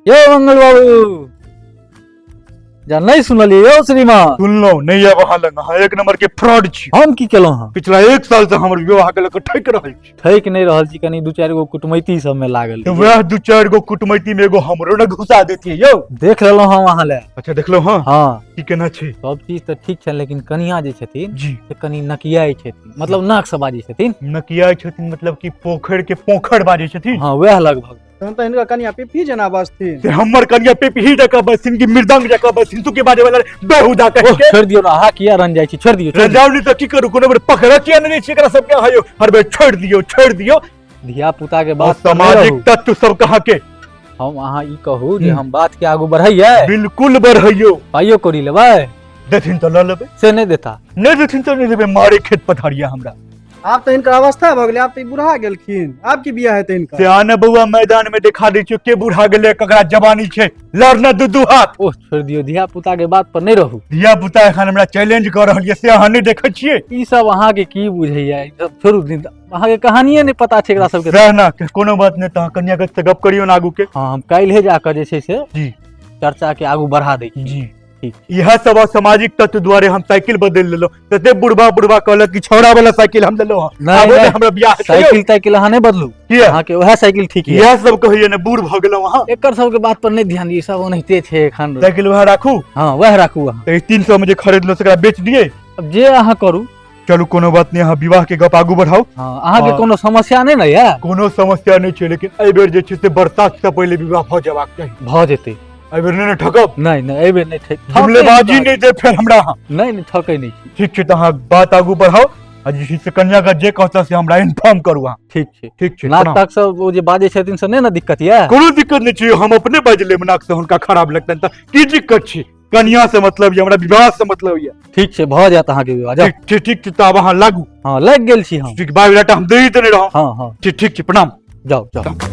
यो मंगल बाबू जा नहीं सुनलिए यो श्रीमान सुनलो नहीं अब हाल अहाँ एक नंबर के फ्रॉड छी हम की केलहुँ हँ पिछला एक साल से हमर विवाह के लक ठक रहल छी ठैक नहीं रहल छी कनी दू चार गो कुटमैती सब में लागल तो वह दू चार गो कुटमैती में एगो हमरो न घुसा देती यो देख लेलहुँ हम अहाँ ले अच्छा देखलो हाँ हाँ की केना छी सब चीज तऽ ठीक छनि लेकिन कनिया जे छथिन जी से कनी नकियाइ छथिन मतलब नाक से बाजै छथिन नकिया छथिन मतलब कि पोखर के पोखर बाजै छथिन हाँ वएह लगभग तहन तऽ हिनका कनिया पिपी जेना बजथिन से हमर कनिया पे पीही जका बसिन की मृदंग जका बसिन तू के बाजे वाला बेहुदा कह ओह, के छोड़ दियो ना अहाँ किया रन जाइ छी छोड़ दियो छोड़ दियो। रजावनी तो की करू कोनो बेर पकड़ किया नहीं छी एकरा सब के हयो हर बेर छोड़ दियो छोड़ दियो धिया पुता के और बात पर नहीं सामाजिक रहू। तत्व सब कहाँ के हम अहाँ ई कहू जे हम्म। हम बात के आगू बढ़ैयै बिल्कुल बढ़ैयो पाइयो कौड़ी लेबै देथिन तो लऽ लेबै से नहि देता नहि देथिन तो नहि देबै मारे खेत पथारिया हमरा आब तऽ हिनकर अवस्था भऽ गेलै आब तऽ ई बुढ़ा गेलखिन आब की बियाह हेतै हिनकर से आने बौआ मैदान में देखा दै छियो के बूढ़ा गेलै ककरा जवानी छै लड़ना दू दू हाथ ओह छोड़ि दियौ धिया पुता के बात पर नहि रहू धिया पुता एखन हमरा चैलेंज कऽ रहल यऽ से अहाँ नहि देखै छियै ई सब अहाँके की बुझैया ई सब छोड़ू दिन अहाँके कहानिये नहि पता छै एकरा सबके रह ना के कोनो बात नहीं तहाँ कन्या के से गप करियो ना आगू के हँ हम काल्हे जाकऽ जे छै से जी। चर्चा के आगू बढ़ा दै छी जी ठीक। यह सब असामाजिक तत्व द्वारे हम साइकिल बदल लेलो तते बुढ़बा बुढ़बा कहलक कि छौड़ा वाला साइकिल हम लेलो हँ। नहीं, आबो नहीं। ने हमरा बियाह हेतै यौ। साइकिल ताइकिल अहाँ नहि बदलू किया? अहाँके उएह साइकिल ठीक यऽ इएह सब कहैया ने बूढ़ भऽ गेलहुँ अहाँ एकर सबके बात पर नहि ध्यान दियौ सब ओनाहिते छै एखन साइकिल वहाँ राखू हँ वएह राखू अहाँ तऽ तीन सौ मे जे खरीदलहुँ तकरा बेच दियै अब जे अहाँ करू चलू कोनो बात नहि अहाँ विवाह के गप आगू बढ़ाउ हँ, अहाँके हँ। कोनो समस्या नहि ने यऽ कोनो समस्या नहि छै लेकिन एहि बेर जे छै से बरसात से पहिले विवाह भऽ जेबाक चाही भऽ जेतै एहि बेर नहि ने ठकब नहि नहि एहि बेर नहि ठक जुमलेबाजी नहि दे फेर हमरा अहाँ नहि नहि ठकै नहि छी ठीक छै तऽ अहाँ बात आगू बढ़ाउ आ जे छै से कन्या का जे कहता से हमरा इन्फॉर्म करू अहाँ ठीक छै ठीक छै नाक प्रणाम। ताक सब ओ जे बाजै छथिन से नहि ने दिक्कत यऽ कोनो दिक्कत नहि छै हम अपने बाजि लेब नाक से हुनका खराब लगतनि तऽ की दिक्कत छै कनिया से मतलब ये हमरा विवाह से मतलब ये ठीक छै भऽ जायत अहाँके विवाह जाउ ठीक ठीक ठीक छै तऽ आब अहाँ लागू हँ लागि गेल छी हम ठीक बायोडाटा हम दे ही देने रहौं हँ हँ ठीक ठीक छै प्रणाम जाउ जाउ